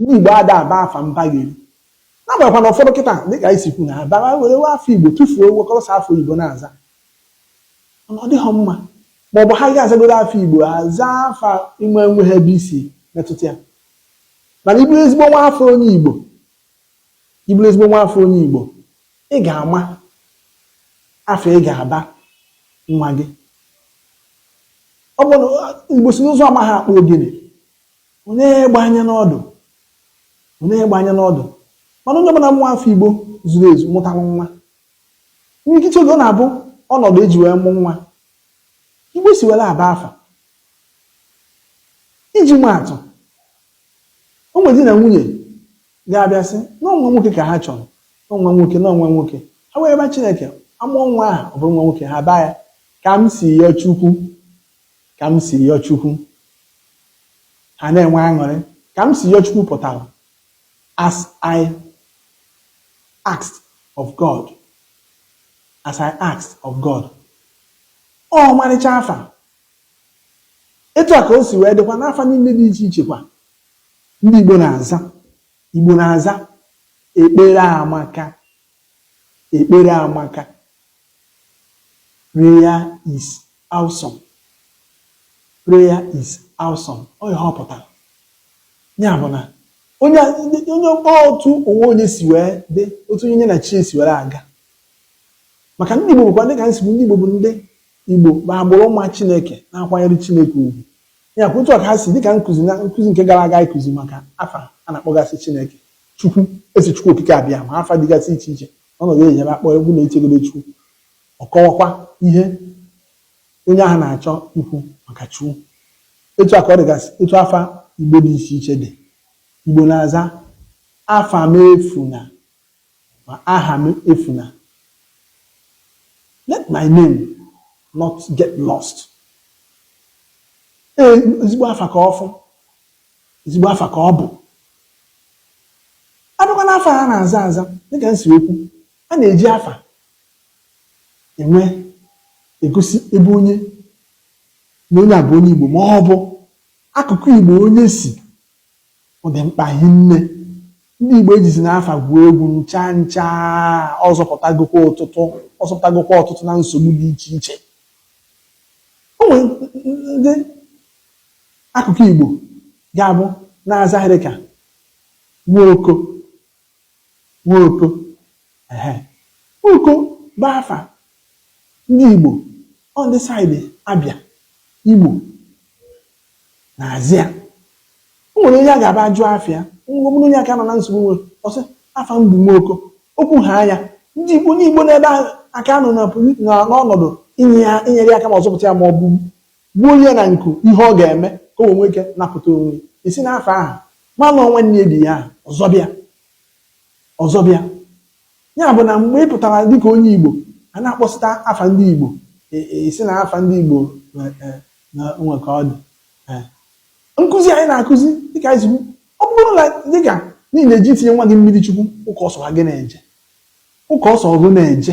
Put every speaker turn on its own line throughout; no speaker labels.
Ndị Igbo ada aba afa mbagheri n'agbanyeghịkwa na ụfọdụ kịta dịka anyị si kwu na abara were we afa Igbo tụfuo wekọrọ sọ afa oyibo na-aza mana ọ dịghị mma ma ọ bụ ha ga azagoro afa Igbo aza afa inwe enweghị ebe isi metụta ya mana ị bụrụ ezigbo nwa afọ onye Igbo ị bụrụ ezigbo nwa afọ onye Igbo ị ga-ama afa ị ga-aba nwa gị ọ bụ Igbo sị na ụzụ amaghị akpụ ogene ọ nee egbe anya n'ọdụ ọ nee egbe anya n'ọdụ mana onye ọbụla nwa afọ Igbo zuru ezu mụtara nwa imirikiti oge ọ na-abụ ọnọdụ eji wee mụ nwa Igbo si were aba afa iji ma atụ o nwere di na nwunye ga-abịa sị na ọ nwa nwoke ka ha chọrọ na ọ nwa nwoke na ọ nwa nwoke ha wee ba Chineke amụọ nwa ahụ ọ bụrụ nwa nwoke ha baa ya ka m si yọọ Chukwu ka m si yọọ Chukwu ha na-enwe aṅụrị ka m si yọọ Chukwu pụtara as I asked of God as I asked of God ọmarịcha afa etu a ka o si wee dịkwa n'afa niile dị iche iche kwa ndị Igbo na-aza Igbo na-aza ekpere amaka Ekpere amaka. Prayer is awesome. Prayer is awesome. Ọ ihe ọ pụtara. Ya bụ na onye onye otu onwe onye si wee dị otu onye na chi ya si were aga maka ndị Igbo bụkwa dịka m si kwu ndị Igbo bụ ndị Igbo bụ agbụrụ ma Chineke na-akwanyere Chineke ugwu ya bụ otu a ka ha si dịka nkụzi na nkụzi nke gara aga ịkụzi maka afa a na-akpọgasị Chineke Chukwu, Ezi Chukwu Okike Abịama afa dịgasị iche iche n'ọnọdụ e nyere akpọ egwu na-echegodo Chukwu. Ọ kọwakwa ihe onye ahụ na-achọ ikwu maka Chukwu. Etu a ka ọ dịgasị etu afa Igbo dị iche iche dị. Igbo na-aza afa m efuna ma aha m efuna. Let my name not get lost. Ee, ezigbo afa ka ọ bụ. ezigbo afa ka ọ bụ a bịakwa n'afa a na-aza aza dịka m si kwu a na-eji afa enwe egosi ebe onye na onye a bụ onye Igbo ma ọ bụ akụkụ Igbo onye si ọ dị mkpa hinne ndị Igbo ejizina afa gwuo egwu ncha ncha ọ zọpụtagokwa ọtụtụ ọ zọpụtagokwa ọtụtụ na nsogbu dị iche iche o nwere ndị Akụkụ Igbo ga-abụ na-aza ihe dị ka Nwoko Nwoko ehe Nwoko bụ afa ndị Igbo ọ ndị saịdị Abịa Imo na-aza ya o nwere onye a ga-aba ajụ afa ya ngwa ọ bụrụ onye aka nọ na nsogbu nwere ọ sị afa m bụ Nwoko okwu ha anya ndị Igbo ndị Igbo n'ebe ahụ aka nọ na poli- na- n'ọnọdụ inye ya inyere ya aka ma ọ zọpụta ya ma ọ bụ Gbuo ya na nku, ihe ọ ga-eme ka o wee nwee ike napụta onwe ya. I si n'afa ahụ malụ ọ nwanne ya di ya ahụ, ọ zọba ya, ọ zọba ya. Ya bụ na mgbe ị pụtara dịka onye Igbo, a na-akpọsịta afa ndị Igbo, ị sị na afa ndị Igbo nwe ka ọ dị. Nkụzi anyị na-akụzi dịka anyị si kwu, ọ bụrụ na dịka na ị na-eje itinye nwa gị mmiri chukwu ụka ọ sọ gị na-eje ụka ọ sọ gị na-eje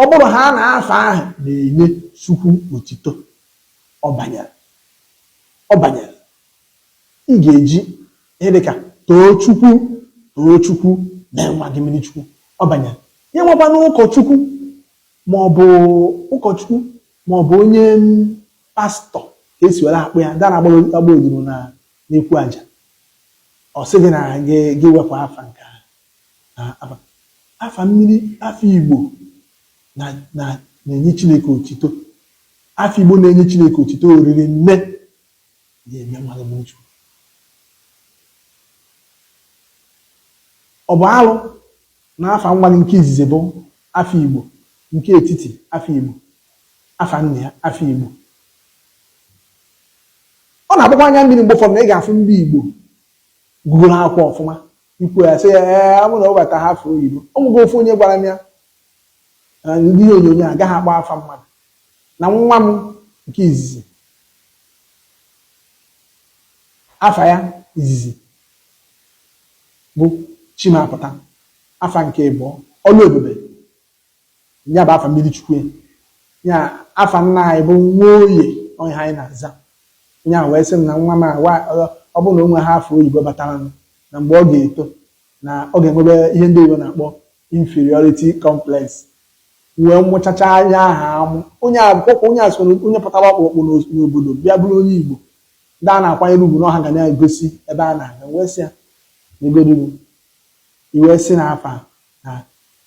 Ọ bụrụ ha na afa ahụ na-enye Chukwu otito, ọ banyere. Ọ banyere. Ị ga-eji ihe dị ka Toochukwu, Toochukwu, mee nwa gị mmiri Chukwu. Ọ banyere. Ya enwekwana ụkọchukwu ma ọ bụ ụkọchukwu ma ọ bụ onye pastọ ka esi were akpọ ya ndị na-agba odibo na n'ekwu aja ọ sị gị na gị wepụ afa nke a na afa afa mmiri afa Igbo na na na-enye Chineke otito afa Igbo na-enye Chineke otito oriri nne ya eme mmadụ mmiri chukwu ọ bụ alụ na afa nwa gị nke izizi bụ afa Igbo nke etiti afa Igbo afa nna ya afa Igbo ọ na-agbakwa anya mmiri mgbe ụfọdụ na ị ga-afụ ndị Igbo gụgoro akwụkwọ ọfụma ikwu ya sị ya ee a mụọ nwa ọ bataha afa oyibo ọ nwụgo ofu onye gwara m ya na ndị ihe onyonyo agaghị akpọ afa mmadụ na nwa m nke izizi afa ya izizi bụ Chimapụta afa nke ịbụọ Ọlụebube Ya bụ afa mmiri chukwu ya afa nna anyị bụ Nwoye onye anyị na-aza onye ahụ wee sị m na nwa m ọ bụrụ na o nweha afa oyibo batara m na mgbe ọ ga-eto na ọ ga-enwebe ihe ndị oyibo na-akpọ inferiority complex wee mụchacha anya aha amụ onye akwụkwọ onye a sị onye pụtara ọkpụrụkpụ n'obodo bịa bụrụ onye igbo ndị a na-akwanyere ugwu n'ọha ga na-egosi ebe a na-aga wee sị ya na iwe si na afa na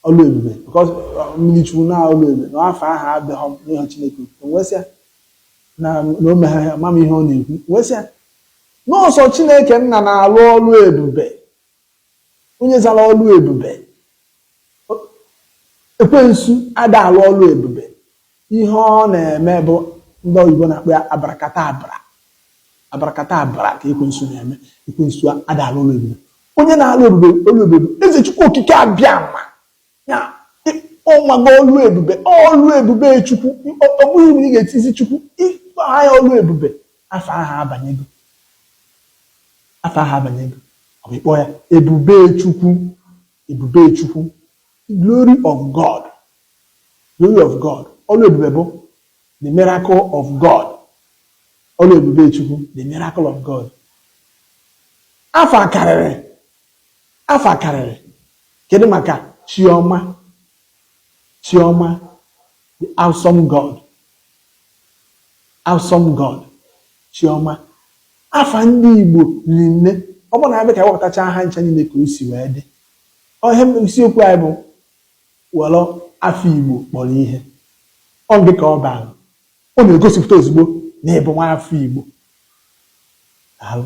Ọlụebube because uh, mmiri chukwu na Ọlụebube na afa ahụ adịghị enye chineke otuto m wee sị ya na na ọ maghị ama ihe ọ na-ekwu M wee sị ya na ọ sọ chineke nna na-alụ ọlụ ebube onye zara Ọlụebube ekwensu ada alụ ọlụ ebube Ihe ọ na-eme bụ ndị oyibo na-akpọ ya abracadabra abracadabra ka ekwensu na-eme ekwensu ada alụ ọlụ ebube onye na-alụ ebube ọlụ ebube bụ eze chukwu okike abiama ya ọnwago ọlụ ebube ọlụ ebube chukwu ọ bụghị na ị ga-etizi chukwu ị kpọọ ya ọlụ ebube afa ahụ abanyego afa ahụ abanyego ọ bụ ịkpọ ya ebube chukwu ebube chukwu The glory of God, glory of God, ọlụ ebube bụ the miracle of God, ọlụ ebube Chukwu, the miracle of God. Afa karịrị, afa karịrị, kedu maka Chioma, Chioma, the awesome God, awesome God, Chioma. Afa ndị Igbo riri nne, ọ bụrụ na a bịa ka e wepụtacha ha ncha niile ka o si wee dị. Ọ ihe isiokwu anyị bụ were afa Igbo kpọrọ ihe. Ọ gị ka ọ bara. Ọ na-egosipụta ozugbo na ị bụ nwa afọ Igbo. Daalụ.